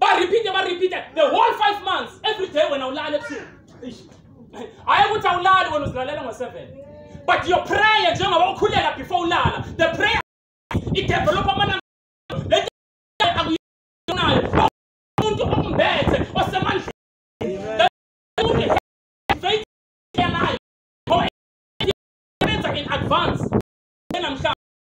barepeate barepeate the whole five months every day wena ulala ebusuku hhayi ukuthi awulali wena uzilalela ngo-seven but your prayer njengoba ukhulela before ulala the prayer idevelopha amananga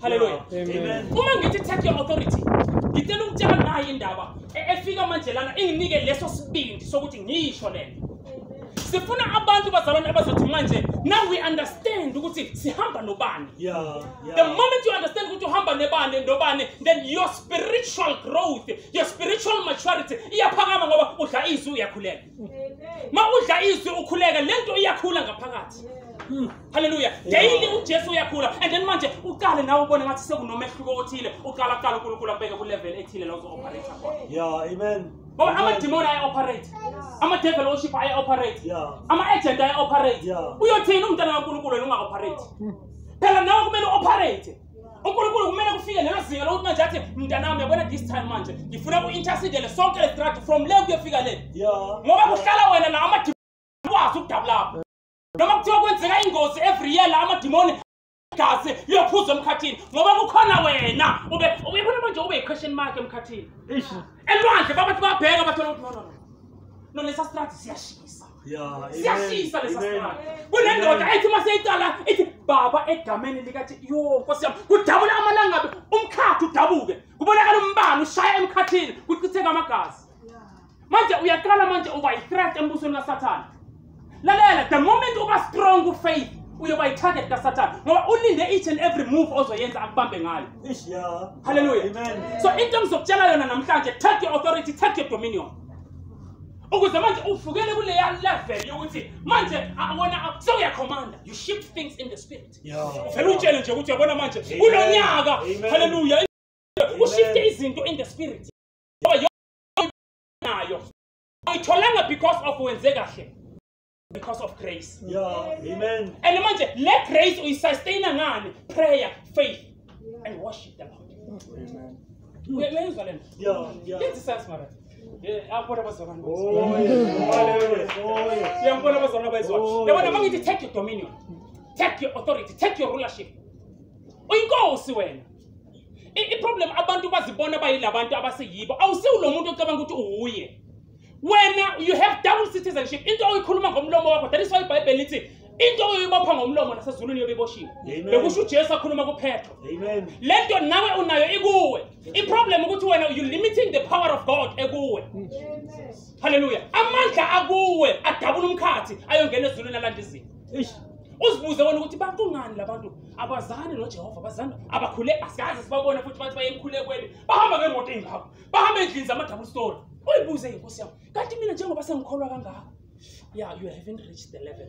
haleluya uma ngithi take your authority ngicela ukutshela nayo indaba e-, efika manje lana inginike leso sibindi sokuthi ngisho le nto sifuna abantu bazalwane abazothi manje now we understand ukuthi sihamba nobani yeah, yeah. the moment you understand ukuthi uhamba nebani nobani then your spiritual growth your spiritual maturity iyaphakama ngoba udla izwi uyakhuleka ma udla izwi ukhuleke le nto iyakhula ngaphakathi hmm. halleluya daily ujesu uyakhula and then manje uqale nawe ubone ngathi sekunomehluko othile uqala qala unkulunkulu abeke kulevel ethile la uzo-operator khona ngoba amadimoni aya-operate amadevil worship aya-operate ama-agent aya-operate uyothini umntana kankulunkulu wena unga-operate hmm. phela nawe kumele u-operate unkulunkulu kumele kufike lelo zinga lokuthi manje athi mntanami yabona this time manje ngifuna ku-intercedele sonke lesitratu from le kuyofika le ngoba kuhlala wena la amadimoni ukudabulapho noma kuthiwa kwenzeka ingozi every year la amadimoni igazi liyophuza emkhathini ngoba kukhona wena ube uyibona manje ube yi-question mark emkhathini elwandle babathi babheka bathola ukuthi no no no no lesa strati siyashisa siyashisa lesa sibanga kunendoda ethi uma seyiqala ithi baba egameni likathi yo nkosi yami kudabula amalangabe umkhathi udabuke kubonakala umbani ushaya emkhathini kuchitheka amagazi manje uyaqala manje uba yi-threat embusweni kasathane lalela the moment uba strong ufaith uyoba yi-target kasathane ngoba ulinde each and every move ozoyenza akubambe ngayo halleluya so into engizokutshela yona namhlanje take your authority take your dominion ukuze manje uvukele kuleya level yokuthi manje wona sewuyakhomanda you shift things in the spirit uvele utshele nje ukuthi uyabona manje kulo nyaka halleluya ushifte izinto in the spirit nayo ayitholanga because of wenze kahle because of grace yeah amen and manje le grace uyisustain ngani prayer faith and worship the lord amen uyayizwa lena yeah yeah yenza sense mara yabona abazalwane siyambona abazalwane abayizwayo yabona uma ngithi take your dominion take your authority take your rulership uyinkosi wena iproblem abantu bazibona bayilabantu abaseyibo awusiwulo muntu ocabanga ukuthi uwuye wena you have double citizenship into oyikhuluma ngomlomo wakho that is why ibhayibheli lithi into oyibopha ngomlomo nasezulwini yobe iboshiwe bekusho ujesu akhuluma kuphetho le nto nawe unayo ikuwe iproblem ukuthi wena you limiting the power of god ekuwe halleluya amandla akuwe adabula umkhathi ayongena ezulwini alanda izinto uzibuze wena ukuthi bakungani labantu abazani nojehova abazani abakhule asikaze sibabone futhi bathi baye emkhulekweni bahamba ngemoto engako bahambe endlini zama-double story uyibuze ke nkosi yami kanti mina njengoba sengikholwa kangako ya you haven't reached the level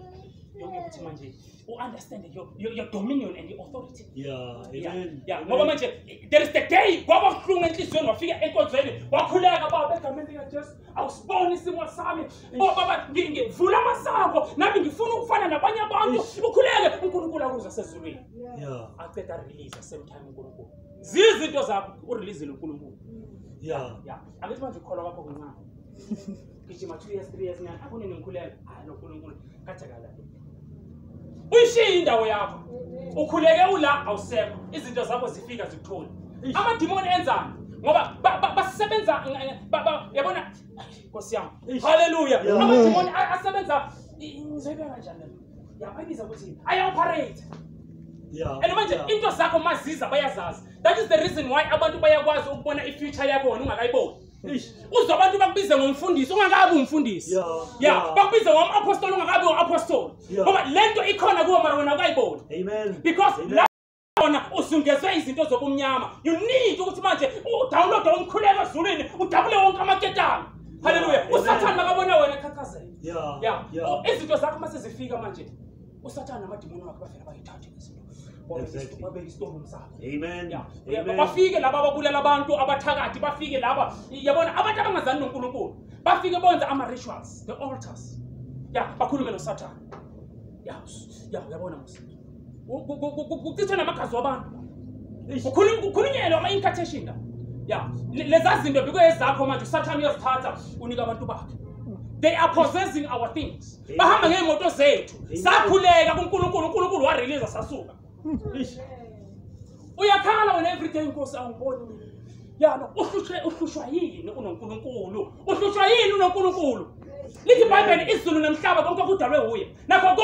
yokuthi manje u-understand your, your, your dominion and your authority ngoba manje there is the day kwaba buhlungu enhliziyweni wafika enkonzweni wakhuleka baba egameni likajesu awusiboni isimo sami o baba ngivula amasango nami ngifuna ukufana nabanye abantu ukhuleke unkulunkulu akuze asezulwini aceda release same time unkulunkulu zizinto zakho urelease loNkulunkulu yeah yeah angithi manje ukholwa kwakho kuncane gijima 2 years 3 years nyana akune nengikhuleka hayi loNkulunkulu kathakala uyishiye indawo yakho ukhuleke ula awusekho izinto zakho zifika zikuthole amadimoni enzani ngoba basebenza yabona nkosi yami haleluya amadimoni asebenza ngizoyibeka kanjani Yababiza ukuthi I operate. Yeah. And manje into zakho maziza bayazazi. That is the reason why abantu bayakwazi ukubona i future yakho wena ungakayiboni. Uzwa abantu bakubize ngomfundisi ungakabi umfundisi. Yeah. Yeah, bakubize ngom apostle ungakabi u apostle. Ngoba lento ikhona kuwe mara wena ukayiboni. Amen. Because khona usungezwe izinto zobumnyama you need ukuthi manje udownloade umkhuleko ezulwini udabule wonke amaketanga haleluya usathane makabona wena khakhazela ya izinto zakho uma sezifika manje usathane namadimoni wakhe bafela bayithathe izinto bafike laba ababulala abantu abathakathi bafike laba yabona abantu abangazani nonkulunkulu bafike bonze ama-rituals the altars ya bakhulume nosathane ya yabona kuchithwe namagazi wabantu kukhulunyelwa ama-incartation la ya leza zinto bikuyezakho manje usathane uyazithatha unika abantu bakhe they are possessing our things bahamba ngey'moto zethu sakhuleka kunkulunkulu unkulunkulu warelease sasuka uyakhala wena everyday nkosi awungiboni mina yalo uhlushwe uhlushwa yini unonkulunkulu uhlushwa yini unonkulunkulu lithi ibhayibheli izulu nomhlaba konke kudalwe wuye nakho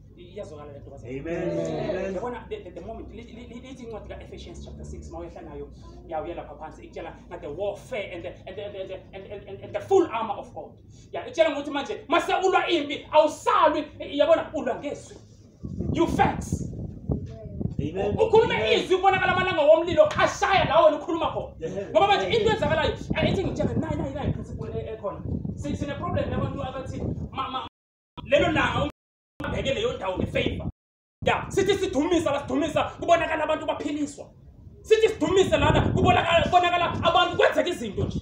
iyazwakala lento kwaze amen yabona the, the, the moment lithi incwadi ka Ephesians chapter 6 mawehla nayo yawo yalapha phansi ikutshela nga the warfare and the, and, the, and, the, and, the, and, and the full armor of God ya ikutshela ngokuthi manje mase ulwa impi awusalwi yabona ulwa ngezwi you facts ukhuluma izwi ubonakala amalanga womlilo ashaya lawo wena ukhuluma khona ngoba manje into enzakalayo ethi ngitshela nayi nayi nayi principle ekhona sineproblem yabantu abathi lelo langa Ngeke leyo ndawo ngefavor. Ya, sithi sidumisa la sidumisa kubonakala abantu baphiliswa. Sithi sidumise lana kubonakala kubonakala abantu kwenzeka izinto nje.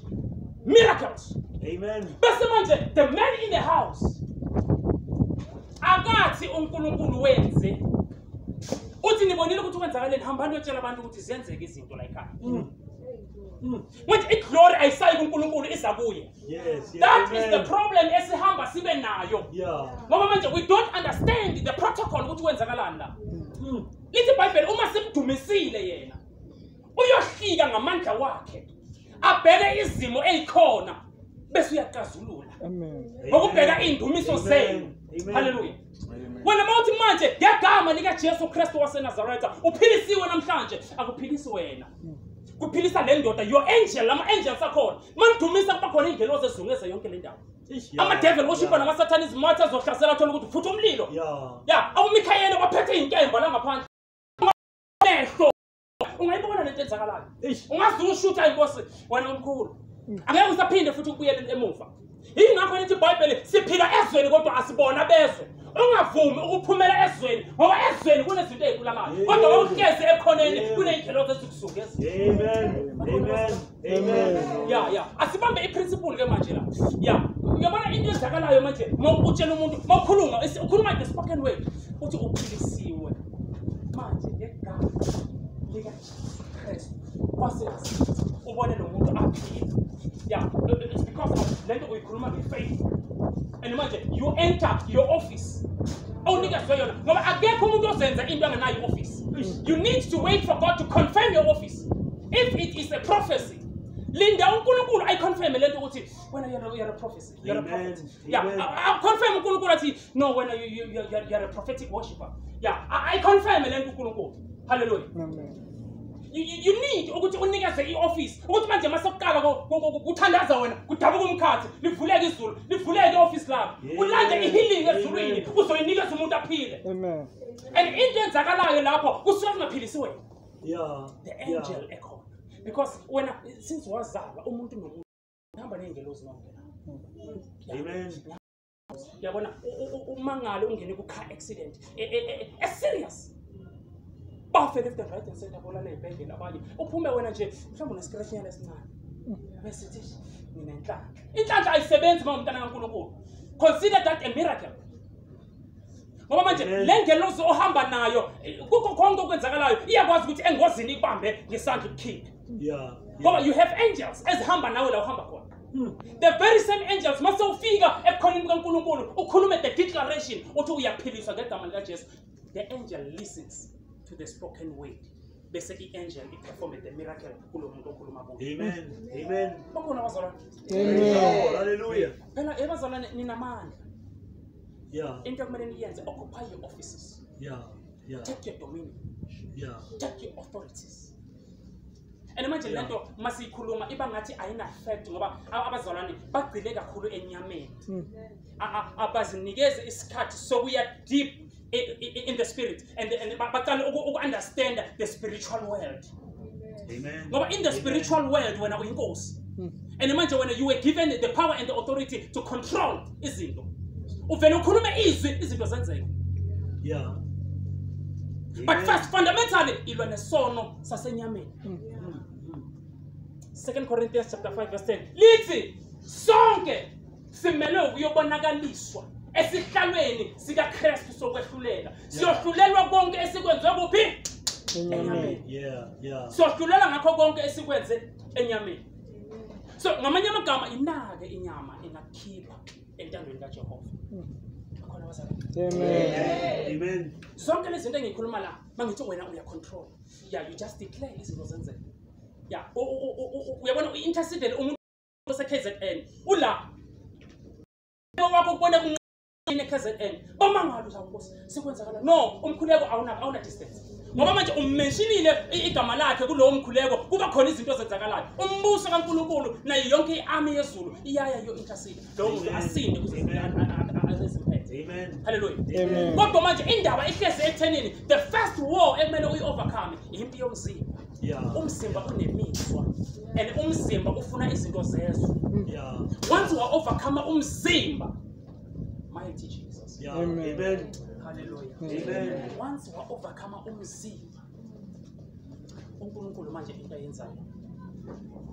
Miracles. Amen. Bese manje the man in the house akathi uNkulunkulu wenze uthi nibonile ukuthi kwenzakaleni hambani uyotshela abantu ukuthi ziyenzeka izinto la ekhaya. Mm. Mm. manje iglory ayisayi kuNkulunkulu iza kuye yes, yes, that amen. is the problem esihamba sibe nayo yeah. ngoba manje we don't understand the protocol ukuthi kwenzakalani la mm. lithi ibhayibheli uma simdumisile yena uyohlika ngamandla wakhe abheke izimo ezikhona bese uyaqazulula ngokubheka iindumiso zenu haleluya wena uma uthi manje ngegama likajesu kristu wasenazaretha uphilisiwe namhlanje akuphilisi wena kuphilisa le ndoda your angel ama-angels akhona ma nidumisa kuba khona iy'ngelozi ezizungeze yonke le ndawo amadevil woshipha namasathane izimatha azohlasela athole ukuthi futhi umlilo ya awumikhayele waphethe iy'nkemba langaphandle ungayibona lento enzakalayo ungazi ushutha inkosi wena omkhulu angeke usaphinde futhi ukubuyele emuva yingakho lithi ibhayibheli siphila ezweni kodwa asibona bezwe ungavumi ukuphumela ezweni ngoba ezweni kunezinto ezikulamayo kodwa wawuhlezi ekhoneni kuney'ndlela zezikusuke ezweni Amen. Yeah, yeah. Asibambe iprinciple ke manje la. Yeah. Uyabona into ezakalayo manje mawutshela umuntu mawukhuluma ukhuluma the spoken word uthi uphilisiwe manje ngegama lika Jesus Christ kwase ubone lo muntu aphila. Yeah, it's because of lento uyikhuluma ngefaith. And manje you enter your office. Awunikezwe yona ngoba akekho umuntu ozenza into anganayo office. You need to wait for God to confirm your office. if it is a prophecy linda unkulunkulu ayiconfirme le nto ukuthi wena you're a prophecy you're a prophet yeah aconfirme unkulunkulu athi no wena you're a prophetic worshipper yeah ayiconfirme le nto unkulunkulu halleluya you need ukuthi unikeze i-ofisi ukuthi manje uma sekuqala kuthandaza wena kudabuka umkhathi livuleke izulu livuleke i-ofisi lakho ulande i-healing ezulwini uzoyinikeza umuntu aphile and into enzakalayo lapho kusuke kungaphilisi wena yeah the angel yeah. ekhona because wena since wazalwa umuntu nomuntu uhamba ney'ngelozi nonke amen yabona umangalo ungene ku-car accident e, e, e, eserious bafe left and right and center bolala ey'bhedlela abanye uphume wena nje mhlawumbe uneskreshnyana esincane besithi mina inhlanhla inhlanhla ayisebenzi uma umntana kankulunkulu consider that a miracle ngoba manje le ngelosi ohamba nayo kukho konke okwenzakalayo iyakwazi ukuthi engozini ikubambe ngesandla ukukhiphe ngoba you have angels ezihamba nawe la uhamba khona hmm. the very same angels mase ufika ebukhoneni bukankulunkulu ukhulume the declaration uthi uyaphiliswa ngegama likajesu the angel listens to the spoken word bese i-angel iperforme the miracle kulo muntu okhuluma kubakhona abazalwane phela ebazalwane ninamandla Yeah. Into okumele niyenze occupy your offices. Yeah. Yeah. Take your dominion. Yeah. Take your authorities. And manje yeah. lento masiyikhuluma iba ngathi ayina effect ngoba abazalwane bagcile kakhulu enyameni. Hmm. Abazinikeze isikhathi sokuya deep in the spirit and, and baqale uku-understanda the spiritual world ngoba in the spiritual world wena uyinkosi hmm. and manje wena you were given the power and the authority to control izinto uvele ukhulume izwi izinto zenzeke yeah but first fundamentally ilwa nesono sasenyameni hmm. second corinthians chapter 5 verse 10 lithi sonke simelwe ukuyobonakaliswa esihlalweni sikaKristu sokwehlulela siyohlulelwa konke esikwenze kuphi enyameni siyohlulelwa ngakho konke esikwenze enyameni so ngamanye amagama inake inyama engakhipha entandweni kaJehova khona wazana amen amen zonke lezi zinto engikhuluma la mangithi wena uya control yeah you just declare izinto zenzeka yeah uyabona i-intercedele umuntu seKZN ula wakho kubona kunqine KZN bamangalo la nkosi sekwenzakala no umkhuleko awuna awuna distance ngoba manje ummenshinile igama lakhe kulowo mkhuleko kuba khona izinto ezenzakalayo umbuso kaNkulunkulu nayo yonke iarmy yezulu iyaya yo intercede lo muntu asinde kuze Amen. Hallelujah. Amen. Kodwa manje indaba ihlezi ekuthenini the first war ekumele uyi overcome impi yomzimba. yeah. umzimba unemizwa and umzimba ufuna izinto zezwe yeah. once wa overcome umzimba mighty jesus yeah. amen, amen. hallelujah amen. once wa overcome umzimba unkulunkulu manje into ayenzayo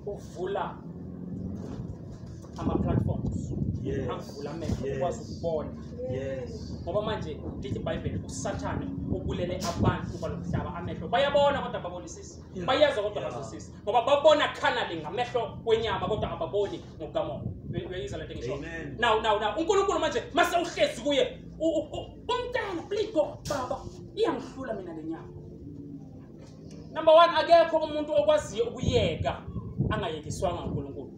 uvula ama-platforms yes. akuvula amehlo yes. ukwazi ukubona yes. ngoba manje lithi ibhayibheli usathane ubulele abantu kuba lomhlaba amehlo bayabona kodwa babonisisi yeah. bayezwa kodwa yeah. bazosisi ngoba babona khanali ngamehlo kwenyama kodwa ababoni ngokukamoya uyayizwa le nto engisho now now now unkulunkulu manje mase uhlezi kuye umntana please go baba iyangihlula mina le nyama number one akekho umuntu okwaziyo ukuyeka angayekiswanga unkulunkulu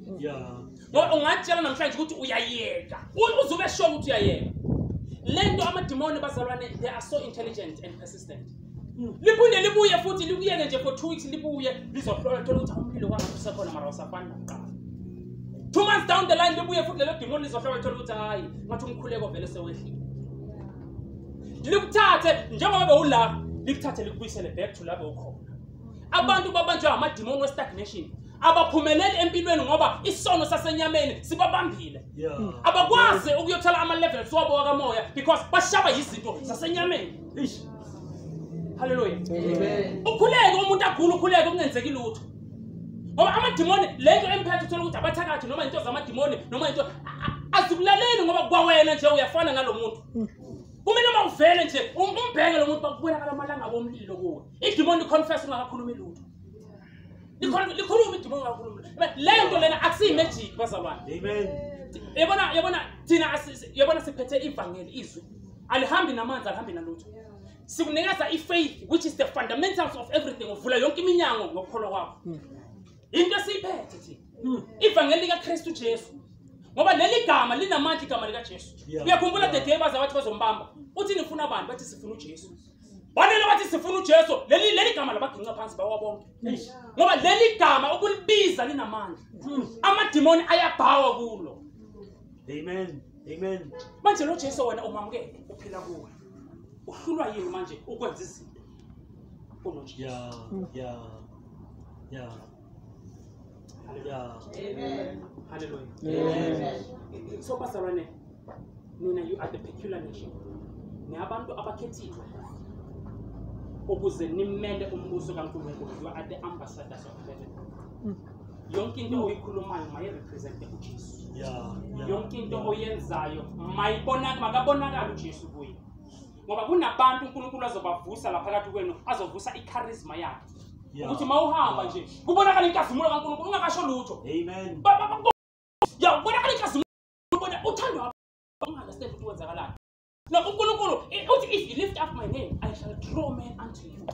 ngoba ungatshela namhlanje ukuthi uyayeka uzube sho ukuthi uyayeka le nto amadimoni bazalwane they are so intelligent and persistent hmm. liphinde libuye futhi likuyeke nje for two weeks libuye lizohlola thola ukuthi umlilo kwangathi usekhona mara usafani nakuqala two months down the line libuye futhi lelo dimoni lizohlola thola ukuthi hhayi ngathi umkhuleko vele sewehlile likuthathe njengoba bewula likuthathe likubuyisele back to labo ukhona abantu babanjwa amadimoni westagnation abaphumeleli empilweni ngoba isono sasenyameni sibabambile abakwazi ukuyothola ama-levels wabo wakamoya because bashaba yizinto zasenyameni halleluya ukhuleke umuntu agula ukhuleke kungenzeki lutho ngoba amadimoni le nto emphethe uthole ukuthi abathakathi noma into zamadimoni noma into azikulaleli ngoba kwawena nje uyafana nalo muntu hmm. kumele uma uvele nje um, umbheke lo muntu bakubonakala amalanga bomlilo kuwe idimoni liconfess ungakakhulumi lutho likhuluma idimoni ungakhulumi le nto lena akusiyimagic bazalwane yabona yabona thina yabona siphethe ivangeli izwi alihambi namanzi alihambi nalutho sikunikeza i-faith which is the fundamentals of everything uvula yonke iminyango ngokukholwa kwakho into esiyiphethe thina hmm. ivangeli likakristu jesu ngoba leli gama linamandla igama likajesu uyakhumbula the day baze bathi bazombamba uthi nifuna abantu bathi sifuna ujesu banele bathi sifuna ujesu leli leli gama labaginqa phansi bawabonke ngoba leli gama ukulibiza linamandla hmm. amadimoni ayabhawa kulo amen amen manje lo jesu wena umamukele uphila kuwe uhlulwa yini manje ukwenza izinto kunojesu yeah, yeah, yeah. Yeah. Amen. Hallelujah. Amen. So bazalwane nina you are the peculiar nation. Ni abantu abakhethiwe ukuze nimele umbuso kaNkulunkulu. You are the ambassadors of heaven. yonke into oyikhulumayo mayirepresente ujesu yonke into oyenzayo makabonakala ujesu kuye ngoba kunabantu unkulunkulu azobavusa laphakathi kwenu azovusa ikharizma yakhe ukuthi ma uhamba nje kubonakala inkazimulo kankulunkulu ungakasho lutho ya kubonakala inkazimulo uthandwa ungaunderstand ukuthi kwenzakalani No, uNkulunkulu eh, uthi if you lift up my name I shall draw men unto you.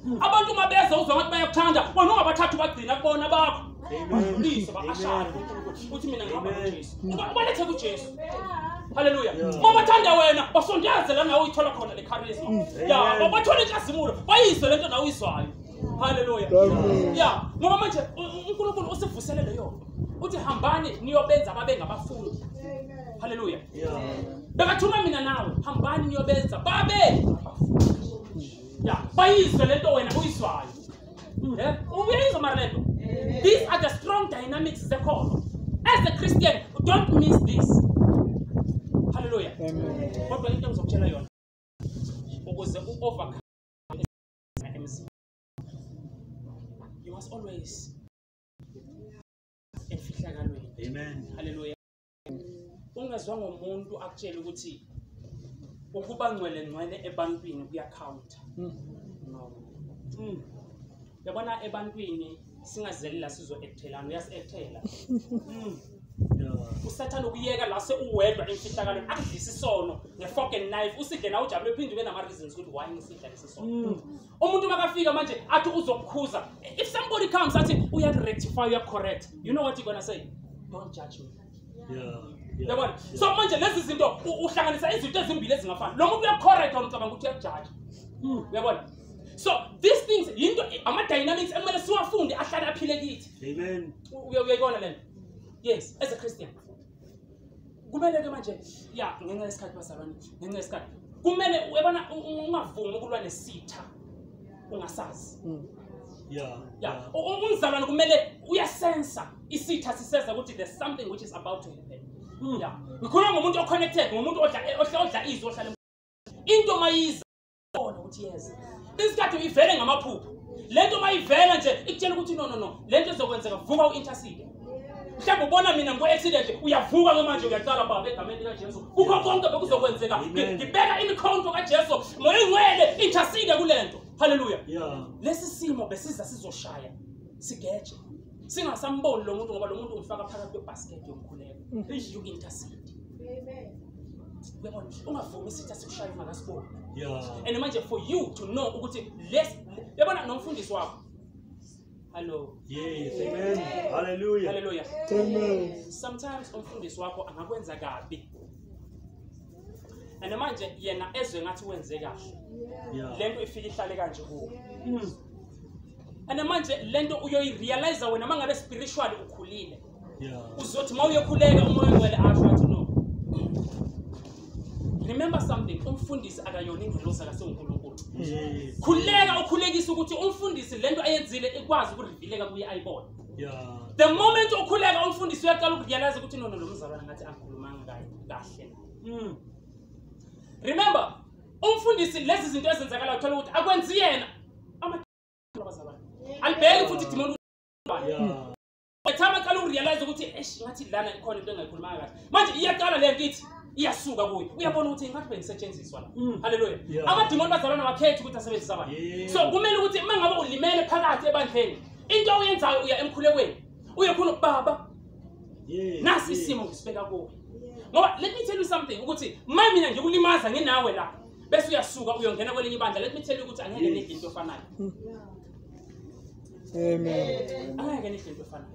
Hmm. Abantu uma beza uzwa ngathi bayakuthanda, wena ungabathatha ubagcina kubona bakho. Badlulise bakashade uNkulunkulu. Uthi mina ngihamba noJesu. Uba ubalethe kuJesu. Hallelujah. Uma bathanda wena, basondeze la nawe uyithola khona le charisma. Hmm. Ya, bathola inkazimulo, bayizwe lento nawe uyizwayo. Hallelujah. Ya, ngoba manje uNkulunkulu usivusele leyo. Uthi hambani niyobenza babe ngabafundi. haleluya bekathuma mina nawe hambani niyobenza babe ya bayizwe lento wena uyizwayo eh? uyayizwa mara lento these are the strong dynamics zekhono as a christian don't miss this haleluya kodwa into engizokutshela yona ukuze u-overcome emzini you must always emfihlakalweni haleluya ungezwa ngomuntu akutshela ukuthi ukuba ngcwele ngcwele ebantwini kuyakhawunta hmm. no hmm. yabona ebantwini singazeli la sizo-ekthelana uyasi-ekthela hmm. usathane ukuyeka la seuwedwa emfihlakalweni akudlisa isono nge-fork and knife usidle na ujabule phinde ube nama-reasons ukuthi why ngisidla lesi sono umuntu makafika manje athi uzokukhuza if somebody comes athi uyakurectify uyakucorrect you know what you're gonna say don't judge me yabona so manje lezi zinto uhlanganisa izinto ezimbili ezingafani lo muntu uyakucorrect wona ucabanga ukuthi uyakujaja hmm. uyabona so these things yinto ama-dynamics ekumele siwafunde ahlale aphile kithi uyayibona lento yes as a christian kumele ke manje ya ngenxa yesikhathi bazalwane ngenxa yesikhathi kumele uyabona ungavumi ukulwa nesitha ungasazi mm. ya ya umzalwane kumele uyasensa isitha siseza ukuthi there's something which is about to happen mm. ya ngikhuluma ngomuntu oconnected ngomuntu odla odla odla izwi ohlala into mayiza bona ukuthi yeza isikhathi uyivele ngamaphupho le nto uma ivela nje ikutshela ukuthi no no no le nto ezokwenzeka vuka u-intercede mhlawumbe ubona mina ngikwe-accident uyavuka ke manje uyaqala baba egameni likajesu kukho konke bekuzokwenzeka ngibeka imikhonto kajesu moya ingcwele intercede kule nto halleluya lesi simo besiza sizoshaya sigeje singasamboni lo muntu ngoba lo muntu umfaka phakathi kwebhasiketi yomkhuleko eish you intercede uyabona ungavumi isitha sikushaye ungakasiboni and manje for you to know ukuthi les yabona nomfundisi wakho hallo yes amen hallelujah hallelujah amen sometimes umfundisi wakho angakwenza kabi and manje yena ezwe ngathi wenze kahle lento ifike ihlale kanje kuwe hmm. and manje lento uyoyirealize wena mangabe spiritual ukhulile yeah. uzothi uma uyekhuleka umoya ongcwele asho athi no remember something umfundisi akayona ingelosi akasengunkulunkulu yes. khuleka ukhulekisa ukuthi umfundisi lento ayenzile ikwazi ukurevileka kuye ayibone yeah. the moment ukhuleka umfundisi uyaqala ukurealize ukuthi nono lo mzalwana ngathi angikhulumanga kahle mm. remember umfundisi lezi zinto ezenzakala uthola ukuthi akwenzi yena alibheki futhi idimoni ethama qala ukurealize ukuthi esh ngathi lana ikhona into engayikhulumanga kahle manje iyaqala le nkithi iyasuka kuyo uyabona ukuthi ngathi bengisetshenziswa la mm. haleluya amadimoni bazalwana wakhetha ukuthi asebenzisa abantu so kumele ukuthi uma ngabe ulimele phakathi ebandleni into oyenzayo uya emkhulekweni uye khona ubaba nasi isimo ngisibeka kuwe ngoba let me tell you something ukuthi ma mina ngikulimaza nginawe la bese uyasuka uyongena kwelinye ibandla let me tell you ukuthi angeke nidle into efanayo amen angeke nidle into efanayo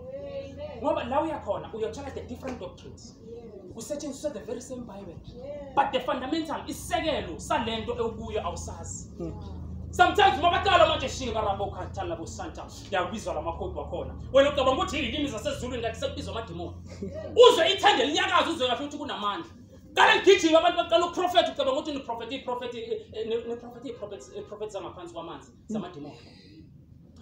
ngoba la uyakhona uyothola the different doctrines kusetshenziswa the very same bible but the fundamental isisekelo salento ewukuyo awusazi hmm. sometimes mabaqala manje shinga rabokhathala bosanta ngiyakubizwa lamakhodi wakhona wena ucabanga ukuthi yilimi zasezulwini kanti sekubizwa amadimoni uzwe ithende linyakaza uzwe kahle ukuthi kunamandla qala ligijima abantu baqala uprofetha ucabanga ukuthi niprofetha iprofetha niprofetha iprofetha iprofetha zangaphansi kwamanzi zamadimoni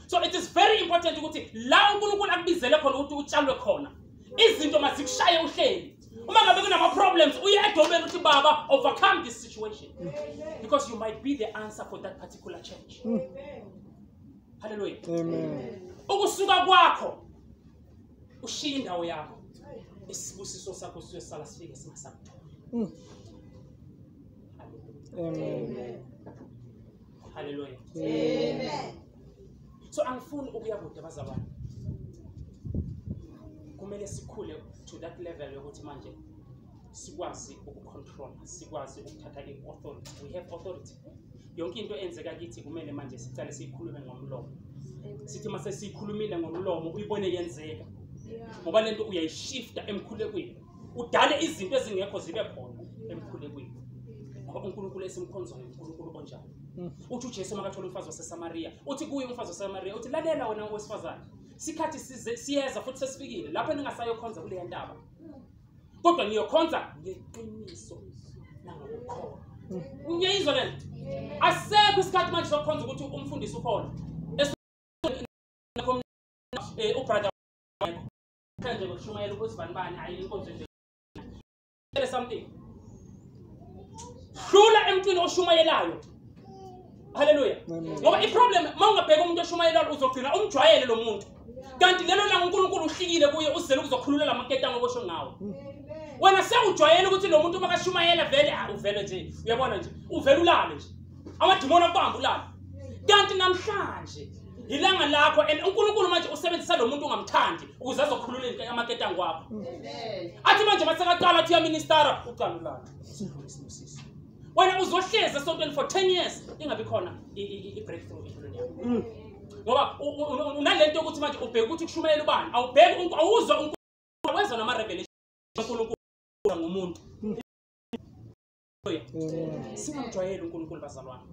so it is very important ukuthi la unkulunkulu akubizele khona ukuthi utshalwe khona izinto mazikushaye uhleli uma ngabe kunama-problems uye edomeni uthi baba overcome this situation because you might be the answer for that particular church Amen. haleluya ukusuka kwakho ushiye indawo yakho isibusiso sakho sisuke sala sifike singasakutholi mm. haleluya so angifuni ukuya kude bazalwane kumele sikhule to that level yokuthi manje sikwazi ukucontrola sikwazi ukuthatha i-authority we have authority yonke into enzeka kithi kumele manje sicale siyikhulume ngomlomo sithi uma sesiyikhulumile ngomlomo uyibone yenzeka ngoba lento uyayishifta emkhulekweni udale izinto ezingekho zibe khona emkhulekweni ngoba unkulunkulu esimkhonzayo unkulunkulu onjani mm. uthi ujesu makathola umfazi wasesamariya uthi kuye umfazi wasesamariya uthi lalela wena owesifazane sikhathi siyeza futhi sesifikile lapho ningasayokhonza kuleya ntaba kodwa niyokhonza ngeqiniso nangokukhona ngiyayizwa le nto asekho isikhathi manje sokukhonza ukuthi umfundisi ukhona eh, ubrother nje ngokushumayela ukuzibanibani hayi inkonzo nje tell something hlula emntwini oshumayelayo haleluya ngoba iproblem uma ungabheka umuntu oshumayelayo uzogcina umjwayele lo muntu kanti lelo langa unkulunkulu uhlikile kuye uzele ukuzokhulula la maketango obosho ngawo wena sewujwayele ukuthi lo muntu uma kashumayela vele ah, uvele nje uyabona nje uvele ulale nje amadimoni akubamba ulale kanti namhlanje ilanga lakho and unkulunkulu manje usebenzisa lo muntu ungamthandi ukuze azokhulula amaketango wakho athi manje masekaqala athi uyaministara uqala ulale wena uzohlezi esontweni for 10 years ingabi khona i-breakthrough empilweni yakho mm. ngoba unale nto yokuthi manje ubheke ukuthi kushumayela ubani awubheki awuzwa unkulunkulu wezwa nama-revelation unkulunkulu ngumuntu mm. singamjwayeli unkulunkulu bazalwane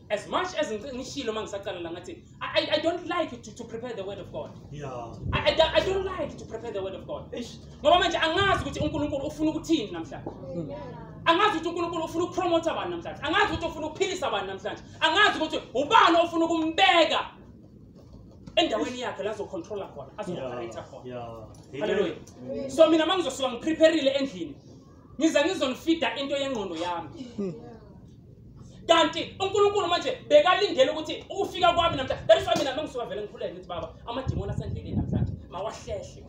as much as ngishilo uma ngisaqala la ngathi I, I don't like to, to prepare the word of God. Yeah. I, I, I don't like to prepare the word of God. Eish. Ngoba manje angazi ukuthi uNkulunkulu ufuna ukuthini namhlanje. Angazi ukuthi uNkulunkulu ufuna ukupromote abantu namhlanje. Angazi ukuthi ufuna ukuphilisa abantu namhlanje. Angazi ukuthi ubani ofuna ukumbeka endaweni yakhe la zocontrola khona, azooperator Yeah. khona. Yeah. Hallelujah. Amen. So mina mangizosuka ngiprepareile endlini. Ngiza ngizonifida into yengqondo yami. kanti unkulunkulu manje bekalindele ukuthi ukufika kwami namhlanje that is why mina mangisuka vele ngikhuleke ngithi baba amadimoni asendleleni namhlanje mawahlehle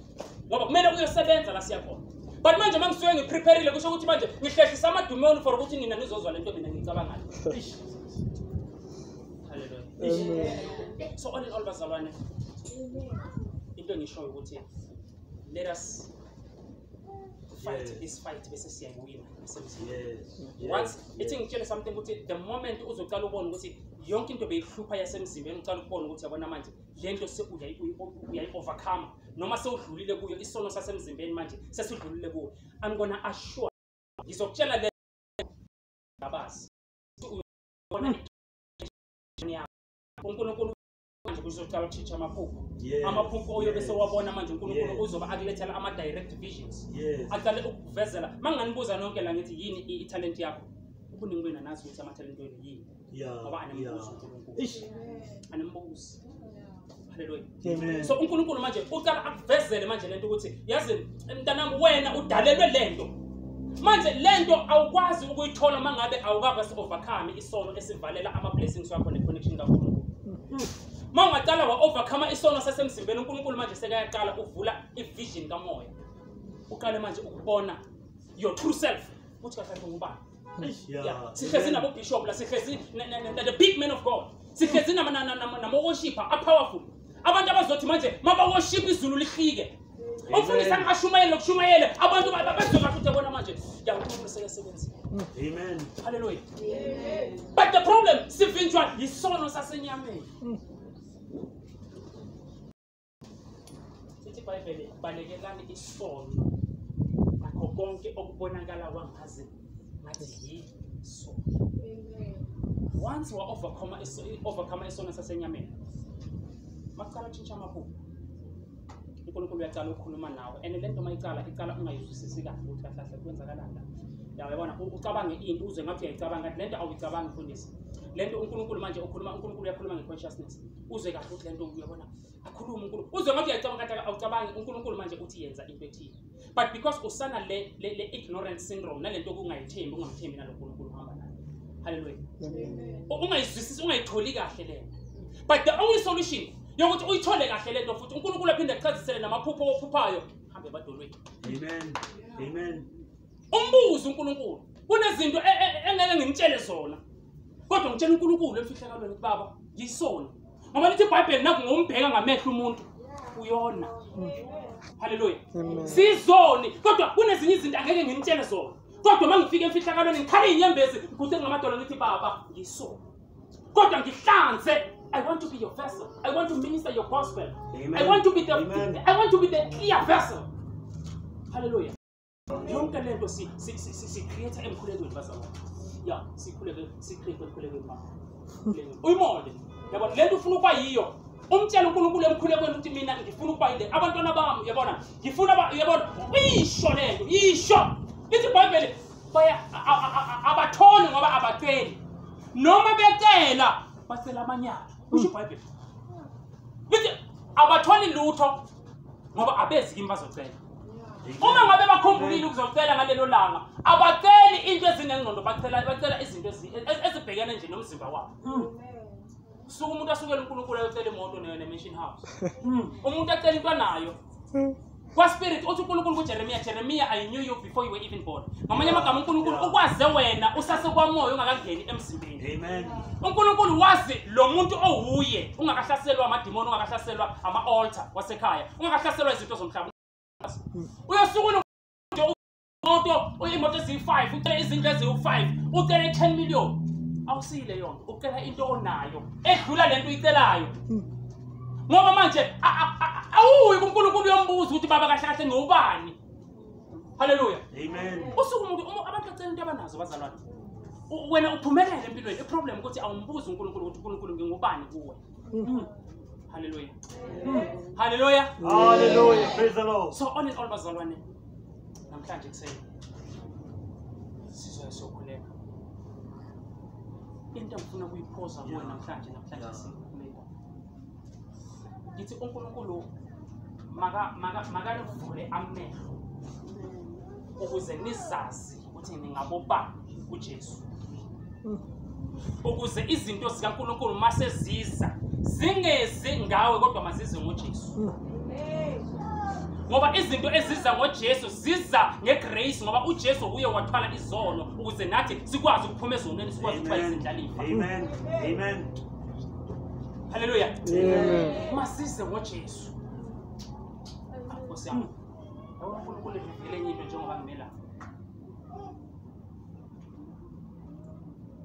ngoba kumele kuyosebenza la siyakhona but manje uma ngisuke ngipreparile kusho ukuthi manje ngihlehlisa amadumoni for ukuthi nina nizozwa le nto mina ngicabangayo so all in all bazalwane into engishoyo ukuthi let us fight is fight bese siyayiwina nasemzini once ithi ngitshele something ukuthi the moment uzoqala ubona ukuthi yonke into beyihlupha yasemzimbeni uqala ukubona ukuthi yabona manje le nto uyayi-overcome noma sewudlulile kuyo isono sasemzimbeni manje sesidlulile kuyo i'm gonna assure ngizokutshela le ngabazi unkulunkulu manje kuzoqala ukushintsha amaphupho Yes, amaphupho oyobe yes. sewabona manje unkulunkulu Yes. uzobe akulethela ama-direct visions Yes. aqale ukukuvezela ma nganibuza nonke la ngithi yini i- ithalenti yakho ubuningi benu anazi ukuthi amathalenti wenu yini Yeah, ngoba animbuzi yeah. unkulunkulu Ish. animbuzi haleluya Amen. so unkulunkulu manje uqala akuvezele manje lento ukuthi yazi mntanami wena udalelwe le nto manje le nto awukwazi ukuyithola uma ngabe awukaka si-overcome isono esivalela ama-blessings wakho ne-connection kankulunkulu uma ungaqala wa-overcome isono sasemzimbeni unkulunkulu manje sekayaqala uvula i-vision kamoya uqale manje ukubona your true self ukuthi kahle ngubani sihlezi nabo bishop la sihlezi the big man of god sihlezi namawoshipha apowerful abantu abazothi manje mabawoshipha izulu lihlike umfundisi angashumayele nokushumayele abantu bezoka futhi yabona manje yankulunkulu sekesebenzi amen halleluya but the problem sivinjwa yisono sasenyameni mm. sithi ibhayibheli balekelani isono nakho konke okubonakala kwangazi ngathi yisono once wa-overcoma overcoma isono sasenyameni makucala utshintsha amaphupho unkulunkulu uyacala ukukhuluma nawe and le nto mayicala icala ungayizwisisi kahle ukuthi kahle kahle kwenzakalani lapho yawayibona ucabange into uze ngathi uyayicabanga kanti le nto awuyicabangi mfundisi le nto unkulunkulu manje ukhuluma unkulunkulu uyakhuluma nge-consciousness uze kahle ukuthi le nto uyabona akhulume unkulunkulu uzwe ngathi uyacabanga kade awucabangi unkulunkulu manje uthi yenza into ethile but because usana le, le, le ignorance syndrome nale nto okungayithembi ungamthembi nalo nkulunkulu uhamba nayo halleluya ungayizwisisi ungayitholi kahle le nto but the only solution yokuthi uyithole kahle le nto futhi unkulunkulu aphinde achazisele namaphupho ophuphayo hambe ebadolweni amen amen umbuze unkulunkulu kunezinto e, e, e, engeke ngimtshele zona kodwa ngitshela unkulunkulu emfihlakalweni ukuthi baba yisona ngoba lithi ibhayibheli naku ngombheka ngamehlo umuntu uyona haleluya sizoni kodwa kunezinye izinto angeke ngimtshele zona kodwa uma ngifika emfihlakalweni ngikhale inyembezi ngiguse ngamadolo ngithi baba yisona kodwa ngihlanze I want to be your vessel. I want to minister your gospel. Amen. I want to be the Amen. I want to be the clear vessel. Hallelujah. yonke le nto si-create emkhulekweni bazalwane ya sikhuleke si-create emkhulekweni ma uyimole yabona le nto ufuna ukuba yiyo umtshela unkulunkulu emkhulekweni ukuthi mina ngifuna ukuba yile abantwana bami yabona ngifuna yabona uyisho le nto yisho lithi ibhayibheli abatholi ngoba abaceli noma becela bacela amanyala kusho ibhayibheli lithi abatholi lutho ngoba abezi kimi bazocela uma ngabe bakhumbulile ukuzocela ngalelo langa abaceli into ezinengqondo bacela bacela izinto ezibhekene nje nomzimba wabo hmm. suke umuntu asukele unkulunkulu ayocela imoto nayo ne-mansion house hmm. umuntu acela into anayo hmm. kwaspirit uthi unkulunkulu kujeremiya jeremiya i knew you before you were even born ngamanye amagama unkulunkulu ukwaze wena usasekwamoya ungakangeni emzimbeni Amen. unkulunkulu wazi lo muntu owuye ungakahlaselwa amadimoni ungakahlaselwa ama-altar wasekhaya ungakahlaselwa izinto zomhlaba uyosukuna imoto imoto eziyi-five ucele izindlu eziwu-five ucele i-ten million awusiyile yonto ucela into onayo edlula le nto uyicelayo ngoba manje a- a- a- awuyi kunkulunkulu uyombuza ukuthi baba kahle kahle ngiwubani haleluya usuke umuntu abantu bacela into abanazo bazalwane wena uphumelele empilweni iproblem ukuthi awumbuzi unkulunkulu ukuthi unkulunkulu ngingubani kuwe hmm. haleluya hmm. haleluya haleluya praise the lord so all in all bazalwane namhlanje kuseni sizoya sokhuleka into engifuna kuyiphosa kuwe namhlanje namhlanje ngithi unkulunkulu makanivule amehlo ukuze nizazi ukuthi ningabobani kujesu ukuze izinto zikankulunkulu uma seziza zingezi ngawe kodwa mazize ngojesu ngoba izinto eziza ngojesu ziza ngegrace ngoba ujesu uye wathwala izono ukuze nathi sikwazi ukuphuma ezonweni sikwazi ukuba izindlalifa haleluya masize ngojesu ah, nkosi yami yabona unkulunkulu evivikele enye into njengoba ngimela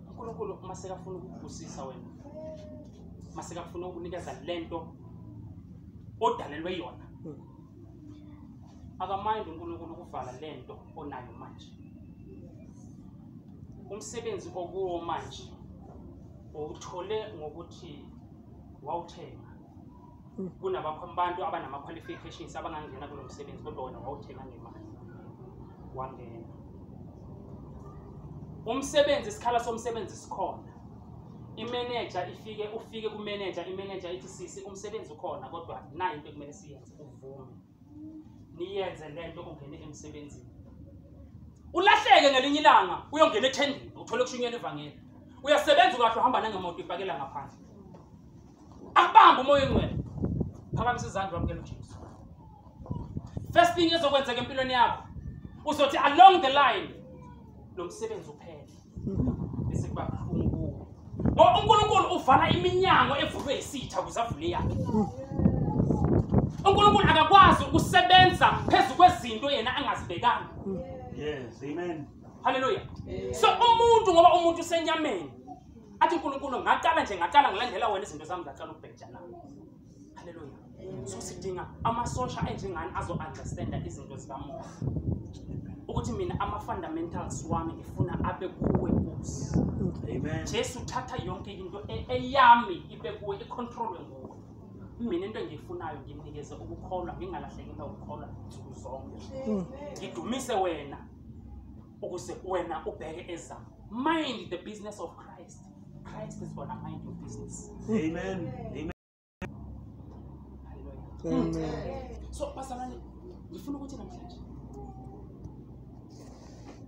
unkulunkulu uma sekafuna ukubusisa wena uma sekafuna ukunikeza le nto odalelwe yona hmm. akamayindi unkulunkulu ukuvala le nto onayo manje umsebenzi okuwo manje uwuthole ngokuthi wawuthenga hmm. kunabantu abanama-qualifications abangangena kulo msebenzi kodwa wona wawuthenga ngemali wangena umsebenzi isikhala somsebenzi sikhona imeneja ifike ufike kumeneja imeneja ithi sisi umsebenzi ukhona kodwa nayi into ekumele siyenze uvume niyenze le nto ungene emsebenzini ulahleke ngelinye ilanga uyongena ethendeni uthole kushunyela ivangeli uyasebenza ukahle uhamba nangemoto ipakela ngaphandle akubambe umoya engcwele phakamisa izandla wamukela ujesu first thing ezokwenzeka empilweni yakho uzothi along the line lo msebenzi uphele bese kuba buhlungu ngoba unkulunkulu uvala iminyango evulwe yisitha ukuze avule yakhe unkulunkulu akakwazi ukusebenza phezu kwezinto yena angazibekanga yes amen haleluya so umuntu ngoba umuntu usenyameni athi unkulunkulu ngaqala nje ngaqala ngilandela wena izinto zami zaqala ukubheja nami Haleluya. So sidinga amasosha enjengani azo understand izinto zikamoya. Ukuthi mina ama fundamentals wami ngifuna abe kuwe Nkosi. Amen. Jesu thatha yonke into e-, eyami ibe kuwe icontrolwe nguwe. mina into engiyifunayo ngimnikeze ukukholwa ngingalahleki into ukukholwa nsuku zonke ngidumise wena ukuze wena ubheke ezakho mind the business of christ christ is gonna mind your business amen amen so basalane ngifuna ukuthi namhlanje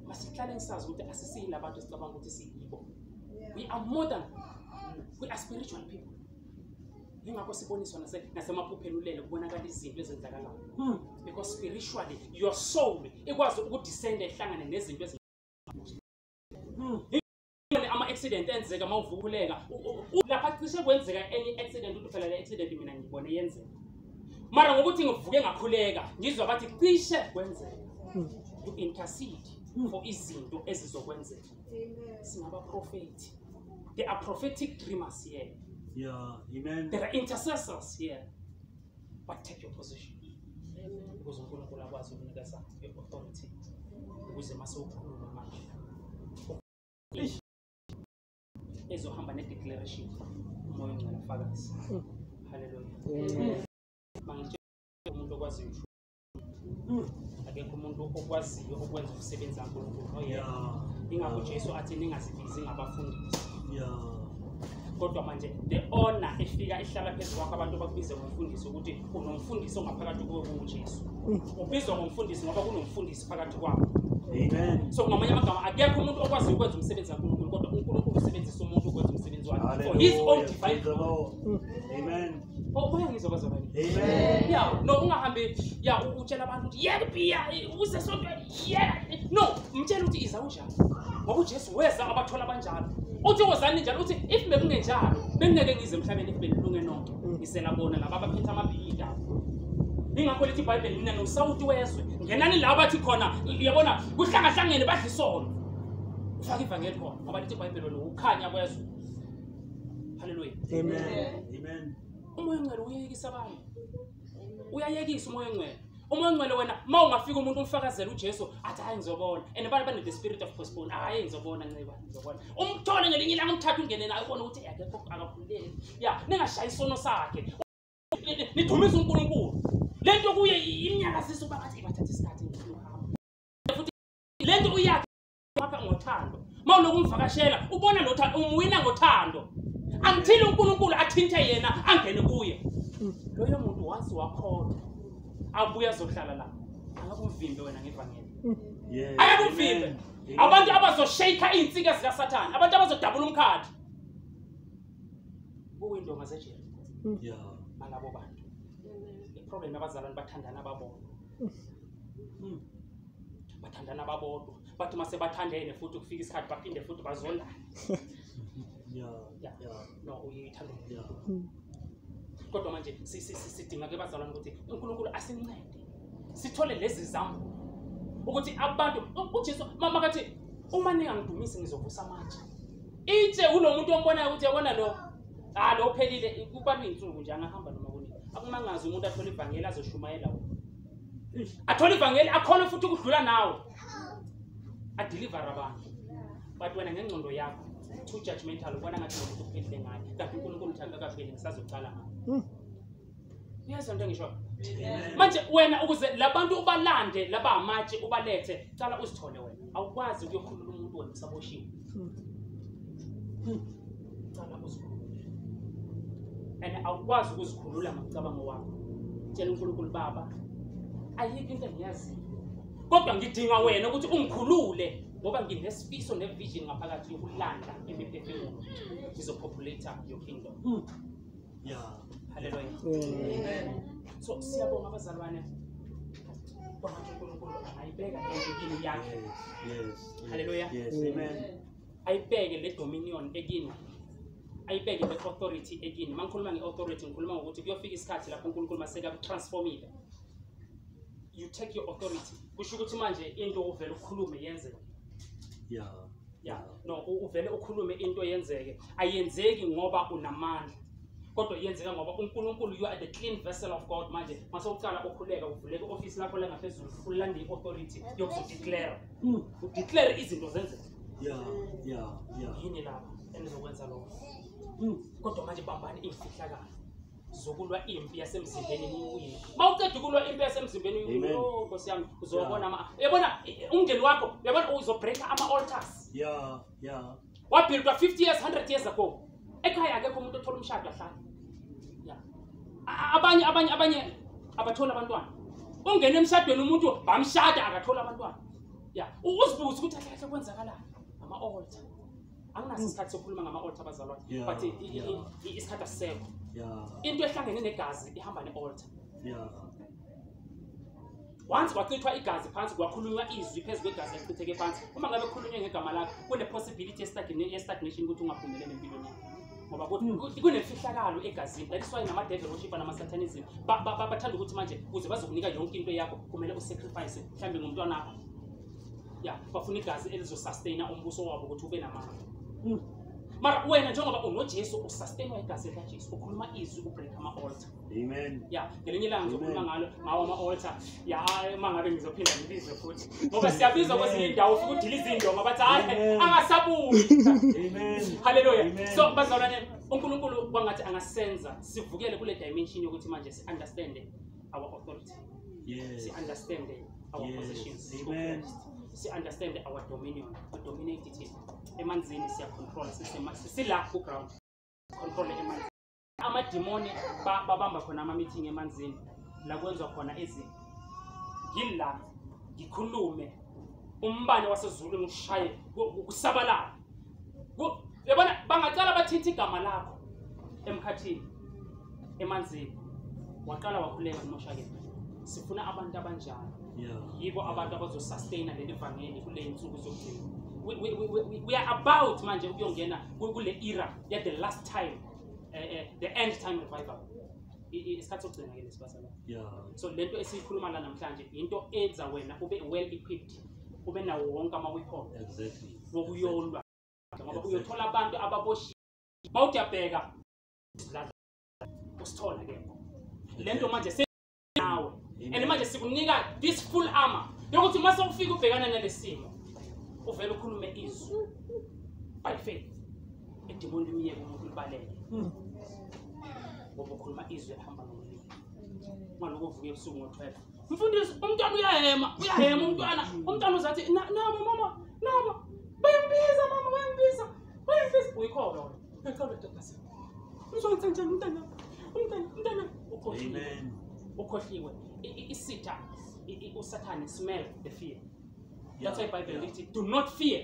masihlale ngisazi ukuthi asisiyila abantu esicabanga ukuthi siyibo we are more than we are spiritual people yingakho siboniswa nasemaphupheni ulele kubonakala izinto ezenzakalayo hmm. because spiritually your soul ikwazi ukudisenda ihlangane nezinto hmm. ama-accident enzeka uma uvukuleka lapha cishe kwenzeka enye i-accident uthi phela le accident mina ngibone yenzeka mara ngokuthi ngivuke ngakhuleka ngizwa bathi cishe kwenzeka hmm. to intercede for izinto ezizokwenzeka Singabaprofethi. There are prophetic dreamers here. Yeah, amen. There are intercessors here. But take your position. Ukuze uNkulunkulu akwazi ukunikeza i-authority ukuze mase ukhuluma manje. Ezohamba ne-declaration umoya ongcwele ufakazi. Hallelujah. Mangitshela umuntu okwaziyo hmm. akekho umuntu okwaziyo ukwenza umsebenzi kankulunkulu oyena ingakho jesu athi ningazibizi ngabafundisi kodwa manje le ona efika ihlala phezu kwakho abantu bakubize ngomfundisi ukuthi unomfundisi ongaphakathi kuwe kungujesu hmm. ubizwa ngomfundisi ngoba kunomfundisi phakathi kwakho so ngamanye amagama akekho umuntu okwazi ukwenza umsebenzi kankulunkulu kodwa unkulunkulu usebenzisa umuntu ukwenza umsebenzi wakhe for his own divine umoya oh, ngizokwazi abanye ya no ungahambi ya utshela abantu ukuthi yeka ibhiya usesontweni yeka no mtshela ukuthi iza unjani ngoba ujesu weza abathola abanjalo uthi wozani njalo uthi if bekungenjalo bengingeke ngize emhlabeni if benilunge nonke mm. ngisela bona laba abaphethe amabhiyi ndabo ingakho lithi ibhayibheli mina nosawuti wezwe ngenani la bathi khona uyabona kuhlangahlangene badla isono ufake ivangeli khona ngoba lithi ibhayibheli wena ukhanya kwezwe haleluya umoya ongcwele uyeyekisa abantu uyayekisa umoya ongcwele umoya ongcwele wena ma ungafika umuntu umfakazela ujesu athi hayi ngizobona and abantu bane-the spirit of postpone hayi ngizobona nceba ngizobona umthole ngelinye ilanga umthatha ungene naye ubone ukuthi akekho akakhululeki ya ningashayi isono sakhe nidumisa unkulunkulu le nto kuye imnyakazisa uba ngathi ibathatha isikhathi futhi le nto uyakhe wakha ngothando uma uloku umvakashela ubona nothando umwina ngothando angithile unkulunkulu athinte yena angene kuye loyo muntu once wakholwa abuye azohlala la akakumvimbe wena ngevangeli akakumvimbe abantu abazoshayikha iy'nsika zikasathane abantu abazodabula umkhathi kuyindonga zejeriko malabo bantu iproblem abazalwane bathandana babona Hmm. bathandana babodwa bathi uma sebathandene futhi kufika isikhathi baphinde futhi bazondane ya ya no uyithanda umuntu kodwa manje si- si- si- sidinga ke bazalwane ukuthi unkulunkulu asincede sithole lezi zambulo ukuthi abantu ujesu mama kathi uma ningangidumisi ngizovusa amatshe itshe kulo muntu ombonayo ukuthi yabona lo ha lo uphelile kubalwa iy'nsuku nje angahamba noma kunini akumangazi umuntu athole ivangeli azoshumayela wona athole ivangeli akhona futhi ukudlula nawe adilivare abantu but wena ngengcondo yakho too judgmental ubona ngathi nomuntu uphelile ngayo kanti unkulunkulu uthanda kahleli ngisazocala ngayo hmm. uyezwa into engisho manje wena ukuze labantu ubalande laba amatshe ubalethe cala uzithole wena awukwazi ukuyokhulula umuntu wena usaboshiwe cala uzikhulule and awukwazi ukuzikhulula ngokucabango wakho tshela unkulunkulu baba ayikho into engiyaziyo kodwa ngidinga wena ukuthi ungikhulule ngoba nginesifiso nevision ngaphakathi yokulanda imiphefumulo ngizopopulata your kingdom hmm. haleluya so siyabonga abazalwane kwamanje unkulunkulu angayibeka endlini yakhe haleluya ayibeke le dominion ekini ayibeke le authority ekini uma ngikhuluma nge-authority ngikhuluma ngokuthi kuyofika isikhathi lapho unkulunkulu masekakutransformile you take your authority kusho ukuthi manje into uvele ukhulume yenzeke yeah. ya no u- uvele ukhulume into yenzeke ayenzeki ngoba unamandla kodwa yenzeka ngoba unkulunkulu you are the clean vessel of god manje mase uqala ukhuleka uvuleke i-ofisi lakho langaphezulu ulande i-authority yokuzodeclare Mm. udeclare izinto zenzeke Yeah, yeah, yeah. yini lapho enizokwenza lokho Mm. kodwa manje bambani imfihlakalo zokulwa impi yasemzimbeni niwine uma uceda ukulwa impi yasemzimbeni niwine oh, nkosi yami uzobona ama yabona umndeni wakho yabona uzobreaka ama-altars ya ya wabhildwa 50 years 100 years ago ekhaya akekho umuntu othola umshado ahlale ya abanye abanye abanye abatholi abantwana ungena emshadweni umuntu bamshada akatholi abantwana ya uzibuze ukuthi ahlahle kwenzakalani ama-altar anginaso mm. isikhathi sokukhuluma ngama-altar abazalwane but isikhathi asisekho into ehlangene negazi ihamba ne-altar once kwachithwa igazi phansi kwakhulunywa izwi phezu kwegazi elichitheke phansi uma ngabe khulunywe ngegama lakho kune-possibility ye-stagnation ukuthi ungaphumelele empilweni yakho ngoba hmm. kunemfihlakalo egazini that is why namadevil oshipa namasatanism bathanda ukuthi manje kuze bazokunika yonke into yakho kumele usacrifice mhlawumbe ngomntwanakho ya bafuna igazi elizosustaina umbuso wabo ukuthi ube namandla hmm. mara wena njengoba unojesu usustainwa igazi likajesu ukhuluma izwi ubreak ama-alter amen ya ngelinye ilanga ngizokhuluma ngalo ngawo ama-alter ya uma ngabe ngizophinda ngibizwe futhi ngoba siyabizwa kwezinye indawo ufike udile izindonga bathi hayi angasabuyi halleluya so bazalwane unkulunkulu kwangathi angasenza sivukele kule dimension yokuthi manje si-understande our authority yes. si understand our yes. positions si understand our dominion we dominate it emanzini siya control sisila ku ground control emanzini amadimoni babamba khona ama meeting emanzini la kwenza khona izinto ngila ngikhulume umbane wasezulu ngishaye kusabalala yabona bangacala bathinta igama lakho emkhathini emanzini waqala wakhuleka kumoshakele sifuna abantu abanjalo yibo abantu abazosustaina leli vangeli kule nsuku zokugcina we, we, we, we are about manje ukuyongena kule era ya the last time uh, uh, the end time revival isikhathi sokugcina ke lesibasala so lento esiyikhuluma la namhlanje yinto enza wena ube well equipped ube nawo wonke ama-weapon exactly wokuyolwa ngoba uyothola abantu ababoshiwe uma uthi uyabheka usithola ke le nto manje senawe and manje sikunika this full armor yokuthi uma sewufika ubhekana nale simo uvele ukhulume izwi by faith edimoni limyeke umuntu libalele hmm. ngoba ukhuluma izwi elihamba ngomlilo ngaloko uvuke ebusuku ngo-twelve mfundisi umntwana uyahema uyahema umntwana umntwana uzathi nabo mama nabo bayambiza mama bayambiza bayambiza uyikhona wena uyikhona ntombazane uzonisa njani umntana umntana umntana ukhohliwe ukhohliwe isitha usathane smell the fear that's why bible lithi do not fear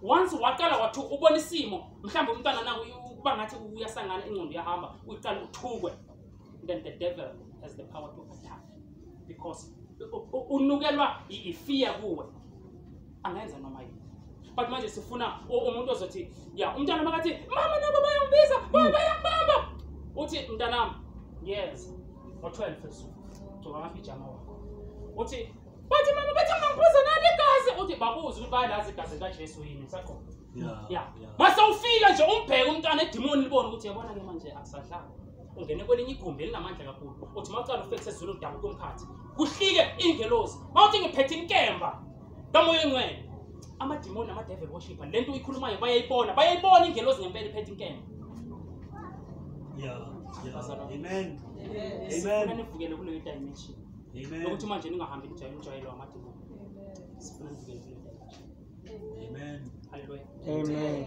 once waqala wathi ubona isimo mhlawumbe umntwana nakuba ngathi uyasangana ingqondo yahamba uyiqala uthukwe then the devil has the power to attack because unukelwa ifear kuwe angenza noma yini but manje sifuna umuntu ozothi ya umntana makathi mama nabo bayangibisa hmm. bayangibamba uthi mntanami yes ngo-12 esuku gcoba amapijama wakho uthi bathi mama bathi angangiphuza nani igazi uthi babuze ukuthi bayalazi igazi likajesu yini usaqoba ya mase ufika nje umbheke umntwana edimoni libone ukuthi yabona-ke manje akusadlali ungene kwelinye igumbi elinamandla kakhulu uthi uma ucala ufekise ezulu udabu komkhathi kuhlike ingelosi mawuthi ngiphethe inkemba kamoya engcwele amadimoni amadevil worshipper le nto uyikhulumayo bayayibona bayayibona ingelosi ngempela iphethe inkemba sifuna nivukele kuleyo dimension yokuthi manje ningahambi nijayele umjwayelo wamadimoni sifuna nivukele kuleyo dimension Amen. Hallelujah. Amen.